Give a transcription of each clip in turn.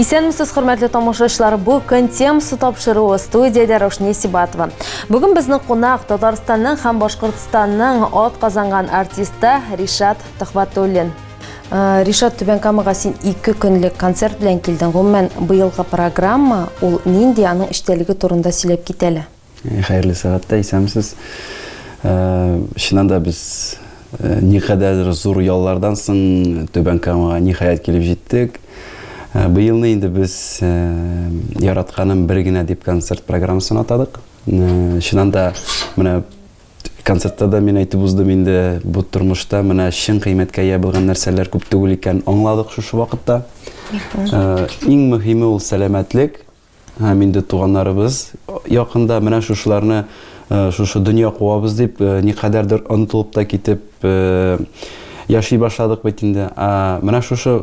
Исәнмесез, хөрмәтле тамашачылар. Бу көн темасы тапшыруы студиядә Рошни Сибатова. Бүген безнең кунак Татарстанның һәм Башкортстанның от казанган артисты Ришат Төхвәтуллин. Э, Ришат Түбәнкамага син ике көнлек концерт белән килдең. Гомумән, быелгы программа ул нинди, аның эчтәлеге турында сөйләп кит әле. Э, хәерле сәгатьтә исәмсез. Э, чыннан да без никадәр зур яллардан соң Түбәнкамага ниһаять килеп җиттек. Быелны инде без яратканым бер генә дип концерт программасын атадык. Чыннан да менә Концертта да мин әйтеп уздым инде, бу тормышта менә чын кыйммәткә ия булган нәрсәләр күп түгел икән, аңладык шушы вакытта. Ә, иң мөһиме ул сәламәтлек. Һәм инде туганнарыбыз якында менә шушыларны э, шушы дөнья куабыз дип, э, никадәрдер онытылып та китеп э, яши башладык бит инде. Ә менә шушы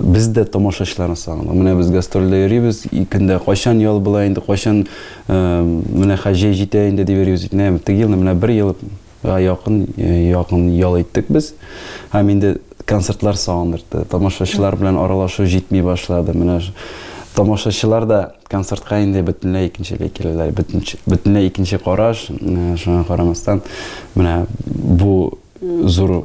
Без дә тамашачыларны сагындык. Менә без гастрольдә йөрибез, көндә кайчан ял була инде, кайчан менә хәзер җәй җитә инде дип йөрибез. Менә теге елны менә бер ел якын, якын ял иттек без. Һәм инде концертлар сагындырды. Тамашачылар белән аралашу җитми башлады. Менә тамашачылар да концертка инде бөтенләй икенчеләй киләләр. Бөтенләй икенче караш. Шуңа карамастан, менә бу зур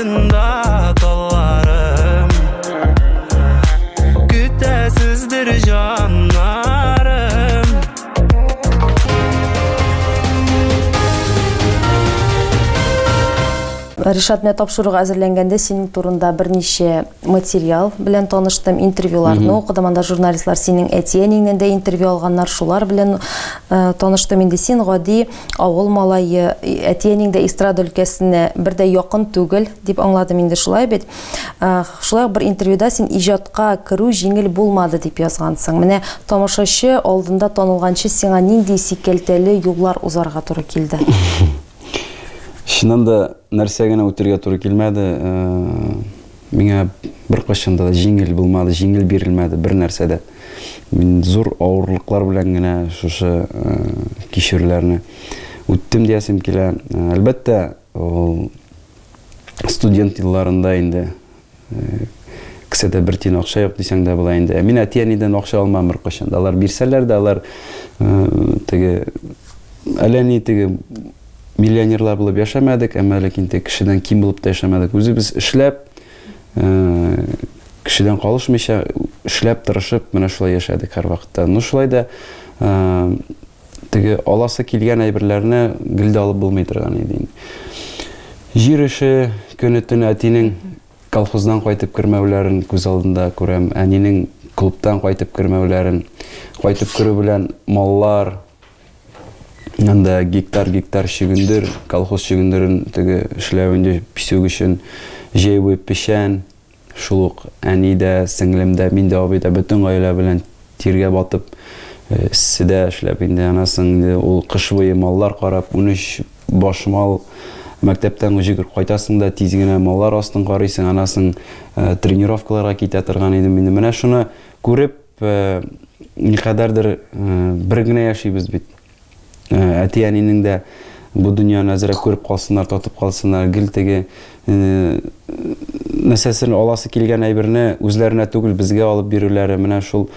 Ришат, менә тапшыруга әзерләнгәндә синең турында берничә материал белән таныштым, интервьюларны укыдым, анда журналистлар синең әти-әниңнән дә интервью алганнар, шулар белән э, таныштым. Инде син гади авыл малае, әти-әниң дә эстрада өлкәсенә бер дә якын түгел, дип аңладым инде шулай бит. Э, шулай бер интервьюда син иҗатка керү җиңел булмады дип язгансың. Менә тамашачы алдында танылганчы сиңа нинди сикәлтәле юллар узарга туры килде? Чыннан да нәрсә генә үтергә туры килмәде. Э, Миңа беркайчан да җиңел булмады, җиңел бирелмәде бер нәрсә дә. Мин зур авырлыклар белән генә шушы э, кичүләрне үттем диясем килә. Э, әлбәттә, ул студент елларында инде э, кесәдә бер тиен акча юк дисәң дә була инде. Ә мин әти-әнидән акча алмам беркайчан да. Алар бирсәләр дә, алар теге әллә ни теге Миллионерлар булып яшәмәдек, әмма ләкин тек кешедән ким булып та яшәмәдек. Үзебез эшләп, кешедән калышмыйча, эшләп, тырышып, менә шулай яшәдек һәр вакытта. Ну, шулай да теге аласы килгән әйберләрне гел дә алып булмый торган иде инде. Җир эше көне төн әтинең колхоздан кайтып кермәүләрен күз алдында күрәм, әнинең клубтан кайтып кермәүләрен, кайтып керү белән маллар, Анда гектар-гектар чөгендер, колхоз чөгендерен теге эшләү инде песок өчен җәйве печән, шул ук әни дә, сеңлем дә, мин дә, абый да бөтен гаилә белән тиргә батып, э, эсседә эшләп инде анасын инде ул кыш буе маллар карап, унөч баш мал мәктәптән гөҗегер кайтасың да тиз генә маллар астын карыйсың, анасын э, тренировкаларга китә торган идем инде. Менә шуны күреп, Никадәрдер бер генә яшибез бит. Әти-әнинең дә бу дөньяны әзрәк күреп калсыннар, татып калсыннар, гел теге нәрсәсен аласы килгән әйберне үзләренә түгел безгә алып бирүләре менә шул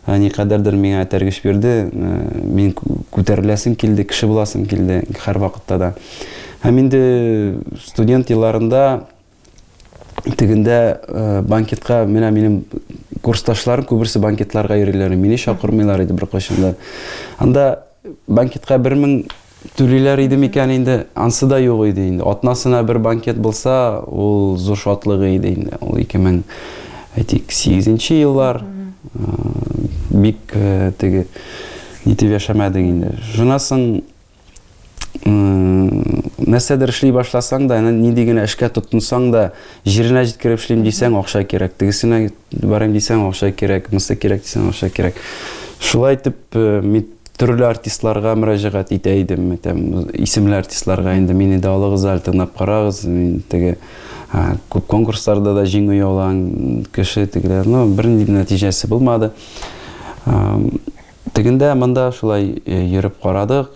никадәрдер миңа этәргеч бирде. Мин күтәреләсем килде, кеше буласым килде һәрвакытта да. Һәм инде студент елларында тегендә э, банкетка менә минем курсташларым күберсе банкетларга йөриләр мине чакырмыйлар иде беркайчан да анда банкетка бер мең түлиләр иде микән инде ансы да юк иде инде атнасына бер банкет булса ул зур шатлыгы иде инде ул ике мең әйтик сигезенче еллар э, бик э, теге нитеп яшәмәдек инде шуннан соң нәрсәдер эшли башласаң да, нинди генә эшкә тотынсаң да, җиренә җиткереп эшлим дисәң, акча кирәк. Тегесенә барам дисәң, акча кирәк, мысы кирәк дисәң, акча кирәк. Шулай итеп, э, мин төрле артистларга мөрәҗәгать итә идем, әйтәм, исемле артистларга инде мине дә алыгыз әле, тыңлап карагыз, мин теге күп конкурсларда да җиңү яулаган кеше тегеләр, но бернинди нәтиҗәсе булмады. Тегендә, монда шулай йөреп карадык.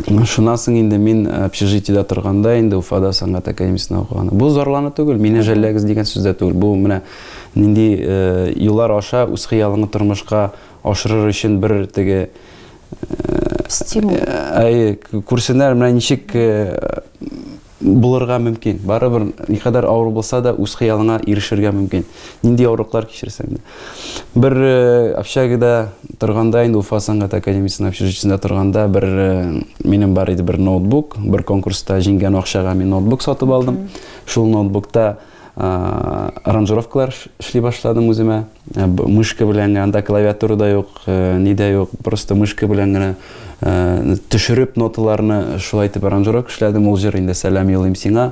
Шуннан соң инде мин общежитиедә торганда, инде Уфада сәнгать академиясендә укыганда. Бу зарлану түгел, мине жәлләгез дигән сүз дә түгел. Бу менә нинди юллар аша үз хыялыңны тормышка ашырыр өчен бер теге стимул. Әйе, күрсеннәр менә ничек Булырга мөмкин. Барыбер, никадәр авыр булса да, үз хыялыңа ирешергә мөмкин. Нинди авырлыклар кичерсәң дә. Бер э, общагада торганда, инде Уфа сәнгать академиясенең общежитиесендә торганда, бер э, минем бар иде бер ноутбук, бер конкурста җиңгән акчага мин ноутбук сатып алдым. Шул ноутбукта Аранжировкалар эшли башладым үземә. Мышка белән генә, анда клавиатура да юк, ни дә юк. Просто мышка белән генә төшереп ноталарны шулай итеп аранжировка эшләдем. Ул җыр инде Сәлам юлыйм сиңа.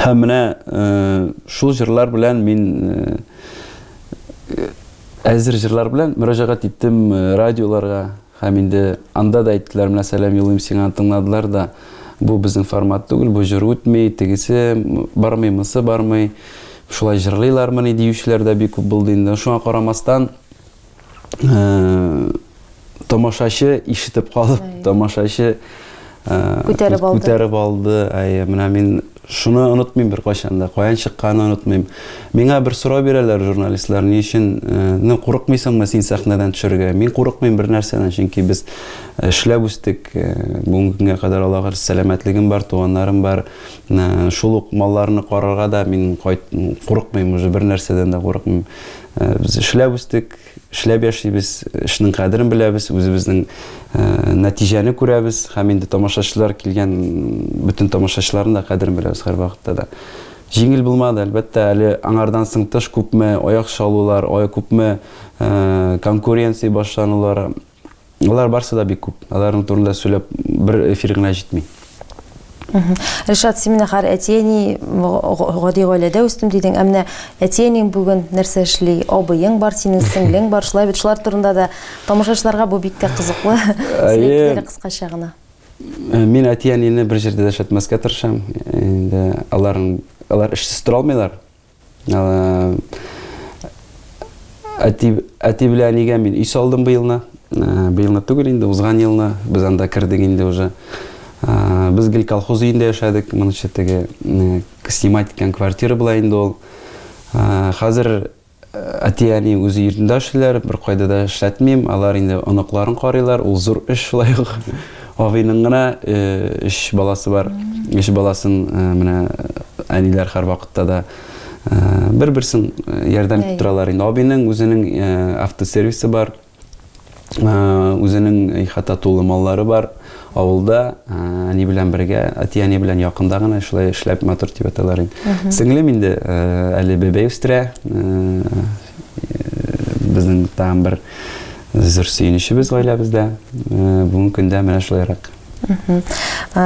Һәм менә шул җырлар белән мин әзер җырлар белән мөрәҗәгать иттем радиоларга һәм инде анда да әйттеләр менә сәлам юллыйм сиңа тыңладылар да бу безнең формат түгел бу җыр үтми тегесе бармый мысы бармый шулай җырлыйлармыни диючеләр дә бик күп булды инде шуңа карамастан тамашачы ишетеп калып, тамашачы күтәреп алды. Күтәреп алды. Әйе, менә мин шуны онытмыйм бер кайчан да. Каян чыкканын онытмыйм. Миңа бер сорау бирәләр журналистлар, ни өчен, ну, курыкмыйсыңмы син сәхнәдән төшәргә? Мин курыкмыйм бер нәрсәдән, чөнки без эшләп үстек. Бүгенге көнгә кадәр Аллага сәламәтлегем бар, туганнарым бар. Шул ук малларны карарга да мин курыкмыйм, уже бер нәрсәдән дә курыкмыйм. Э, без эшләп үстек эшләп яшибез эшнең кадерен беләбез үзебезнең э, нәтиҗәне күрәбез һәм инде тамашачылар килгән бөтен тамашачыларның да кадерен беләбез һәрвакытта да җиңел булмады әлбәттә әле аңардан соң тыш күпме аяк чалулар күпме э, конкуренция башланулар Алар барсы да бик күп. Аларның турында сөйләп бер эфир генә җитми. Ришат Семинахар әтиәни гади гаиләдә үстем дидең. Ә менә әтиәнең бүген нәрсә эшли? Абыең бар, синең сеңлең бар. Шулай бит шулар турында да тамашачыларга бу бик тә кызыклы. Әйе. Кыскача гына. Э, мин әтиәнине бер җирдә дәшәтмәскә тырышам. Инде аларның алар эшсез тора алмыйлар. Әти, әти белән әнигә мин өй салдым быелны. Быелны түгел инде, узган елны без анда кердек инде уже. Без гел колхоз өендә яшәдек, моны читеге снимать иткән квартира була инде ул. Хәзер әти әни үзе йортында эшлиләр, бер кайда да эшләтмим. Алар инде оныкларын карыйлар, ул зур эш шулай ук. Абыйның гына өч баласы бар. Өч баласын менә әниләр һәрвакытта да бер-берсен ярдәм итеп торалар инде. Абыйның үзенең автосервисы бар. Үзенең ихата тулы маллары бар. Авылда әни белән бергә, әти-әни белән якында гына шулай эшләп матур дип аталар инде. Сеңлем инде әле бәбәй үстерә. безнең тагын бер зур сөенечебез гаиләбездә. Бүгенге көндә менә шулайрак.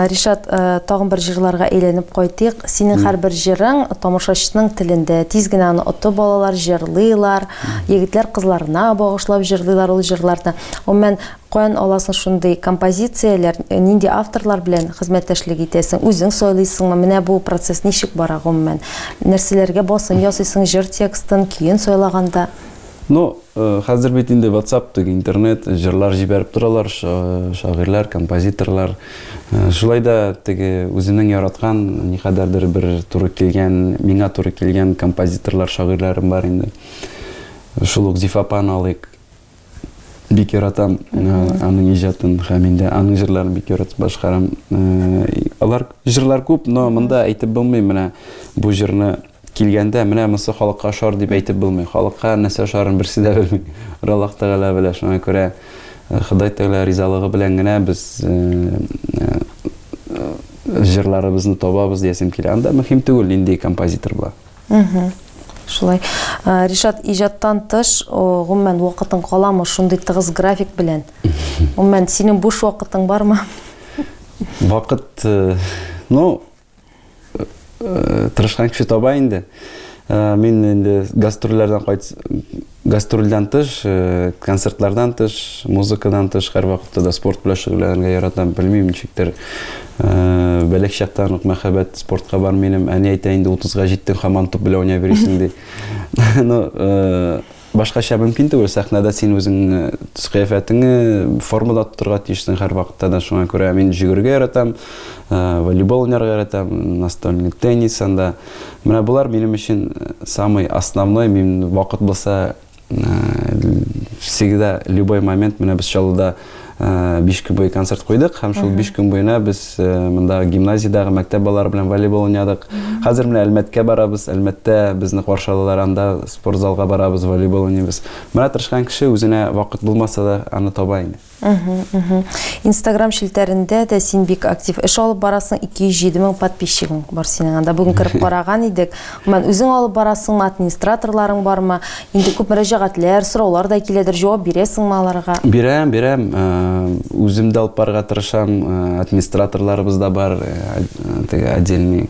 Ришат, тагын бер җырларга әйләнеп кайтыйк. Синең һәрбер җырың тамашачының телендә. Тиз генә аны оты балалар җырлыйлар, егетләр кызларына багышлап җырлыйлар ул җырларны. Гомумән, Каян аласың шундый композицияләр, нинди авторлар белән хезмәттәшлек итәсең, үзең сайлыйсыңмы, менә бу процесс ничек бара гомумән? Нәрсәләргә басым ясыйсың җыр текстын, көен сайлаганда? Ну, хәзер бит инде ватсап теге интернет, җырлар җибәреп торалар, шагыйрьләр, композиторлар. Шулай да теге үземнең яраткан, никадәрдер бер туры килгән, миңа туры килгән композиторлар, шагыйрьләрем бар инде. Шул ук Зифа апаны алыйк. Бик яратам аның иҗатын һәм инде аның җырларын бик яратып башкарам. Алар җырлар күп, но монда әйтеп булмый менә бу җырны килгәндә менә монысы халыкка ошар дип әйтеп булмый. Халыкка нәрсә ошарын берсе дә белми. Аллаһ Тәгалә белә. Шуңа күрә Ходай Тәгалә ризалыгы белән генә без җырларыбызны табабыз диясем килә. Анда мөһим түгел нинди композитор була. Шулай. Ришат, иҗаттан тыш, гомумән, вакытың каламы шундый тыгыз график белән? Гомумән, синең буш вакытың бармы? Вакыт, ну, тырышкан кеше таба инде. Мин инде гастрольләрдән кайт, Гастрольдән тыш, концертлардан тыш, музыкадан тыш һәрвакытта да спорт белән шөгыльләнергә яратам. Белмим, ничектер, бәләк чактан ук мәхәббәт спортка бар минем. Әни әйтә инде, 30-га җиттең, һаман туп белән уйнап йөрисең, ди. Ну, башкача мөмкин түгел, сәхнәдә син үзеңне, төс-кыяфәтеңне формада тотарга тиешсең һәрвакытта да. Шуңа күрә мин йөгерергә яратам, волейбол уйнарга яратам, настольный теннис анда. Менә болар минем өчен э, самый основной, мин вакыт булса э, всегда любой момент менә без Чаллыда 5 э, көн буе концерт куйдык һәм шул 5 көн буена без монда гимназиядәге мәктәп балалары белән волейбол уйнадык. Хәзер менә Әлмәткә барабыз, Әлмәттә безне каршы алалар, анда спортзалга барабыз, волейбол уйныйбыз. Менә тырышкан кеше үзенә вакыт булмаса да аны таба инде. Инстаграм челтәрендә дә син бик актив эш алып барасың, 207 мең подписчигың бар синең анда. Бүген кереп караган идек. Гомумән, үзең алып барасыңмы, администраторларың бармы? Инде күп мөрәҗәгатьләр, сораулар да киләдер, җавап бирәсеңме аларга? Бирәм, бирәм. Үзем дә алып барырга тырышам. Администраторларыбыз да бар, теге отдельный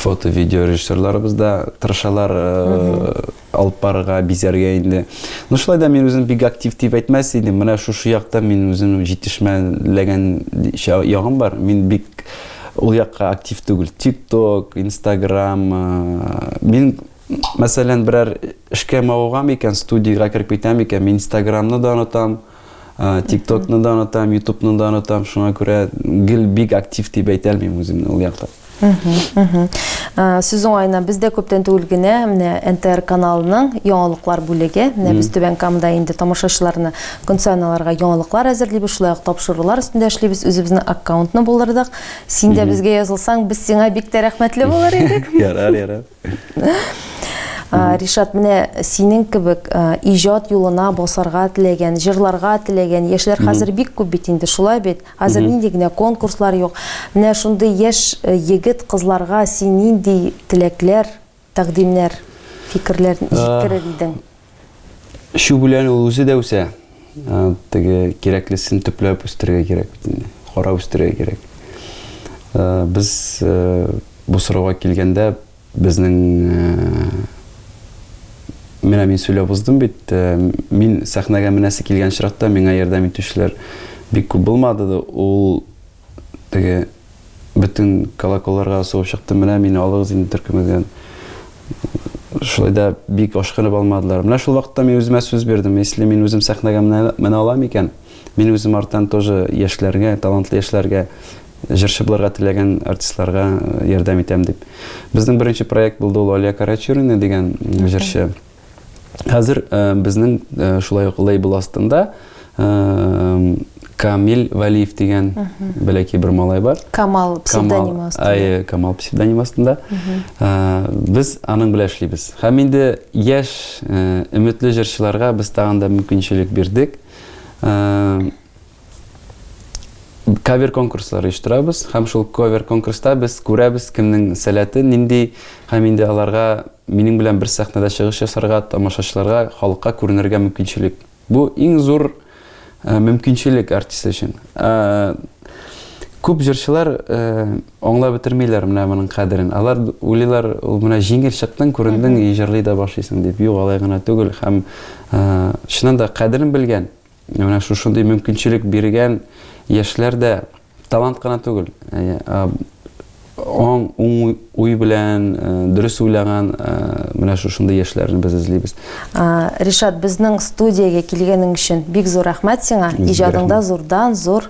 фото-видеорежиссерларыбыз да тырышалар. Алып барырга, бизәргә инде. Ну шулай да мин үзем бик актив дип әйтмәс идем. Менә шушы якта мин үзем җитешмәләгән ягым бар. Мин бик ул якка актив түгел. Тикток, Инстаграм. Мин мәсәлән берәр эшкә мавыгам икән, студиягә кереп китәм икән, мин Инстаграмны да онытам. Тиктокны да онытам, Ютубны да онытам, шуңа күрә гел бик актив дип әйтә алмыйм үземне ул якта. Сүз уңаена без дә күптән түгел генә менә НТР каналының яңалыклар бүлеге, менә без Түбән Камда инде тамашачыларны көн саен аларга яңалыклар әзерлибез, шулай ук тапшырулар өстендә эшлибез, үзебезнең аккаунтны булдырдык. Син дә безгә язылсаң, без сиңа бик тә рәхмәтле булыр идек. Ярар, ярар. Ришат, менә синең кебек иҗат юлына басарга теләгән, җырларга теләгән яшьләр хәзер бик күп бит инде, шулай бит? Хәзер нинди генә конкурслар юк. Менә шундый яшь егет, кызларга син нинди теләкләр, тәкъдимнәр, фикерләр җиткерер идең? Эчү белән ул үзе дә үсә. Теге кирәклесен төпләп үстерергә кирәк бит инде. Карап үстерергә кирәк. Без бу сорауга килгәндә безнең менә мин сөйләп уздым бит, мин сәхнәгә менәсе килгән чиракта миңа ярдәм итүчеләр бик күп булмады. Ул теге бөтен колоколларга сугып чыктым, менә мине алыгыз инде төркемегездән. Шулай да бик ашкынып алмадылар. Менә шул вакытта мин үземә сүз бирдем, если мин үзем сәхнәгә менә алам икән, мин үзем арттан тоже яшьләргә, талантлы яшьләргә, җырчы булырга теләгән артистларга ярдәм итәм дип. Безнең беренче проект булды ул Алия Карачурина дигән җырчы. Хәзер э, безнең э, шулай ук лейбл астында Камил Валиев дигән бәләкәй бер малай бар. Камал псевдонимы астында. Әйе, Камал псевдонимы астында. Без аның белән эшлибез. Һәм инде яшь э, өметле җырчыларга без тагын да мөмкинчелек бирдек. кавер конкурслар оештырабыз һәм шул кавер конкурста без күрәбез кемнең сәләте нинди һәм инде аларга минем белән бер сәхнәдә чыгыш ясарга тамашачыларга халыкка күренергә мөмкинчелек бу иң зур э, мөмкинчелек артист өчен э, күп җырчылар э, аңлап бетермиләр менә моның кадерен алар уйлыйлар ул менә җиңел чыктың күрендің и җырлый да башлыйсың дип юк алай гына түгел һәм чыннан да кадерен белгән Менә шушындый мөмкинчелек биргән яшьләр дә талант кына түгел. Аң уң уй белән дөрес уйлаган менә шушындый яшьләрне без эзлибез. Ришат, безнең студиягә килгәнең өчен бик зур рәхмәт сиңа. Иҗадыңда зурдан-зур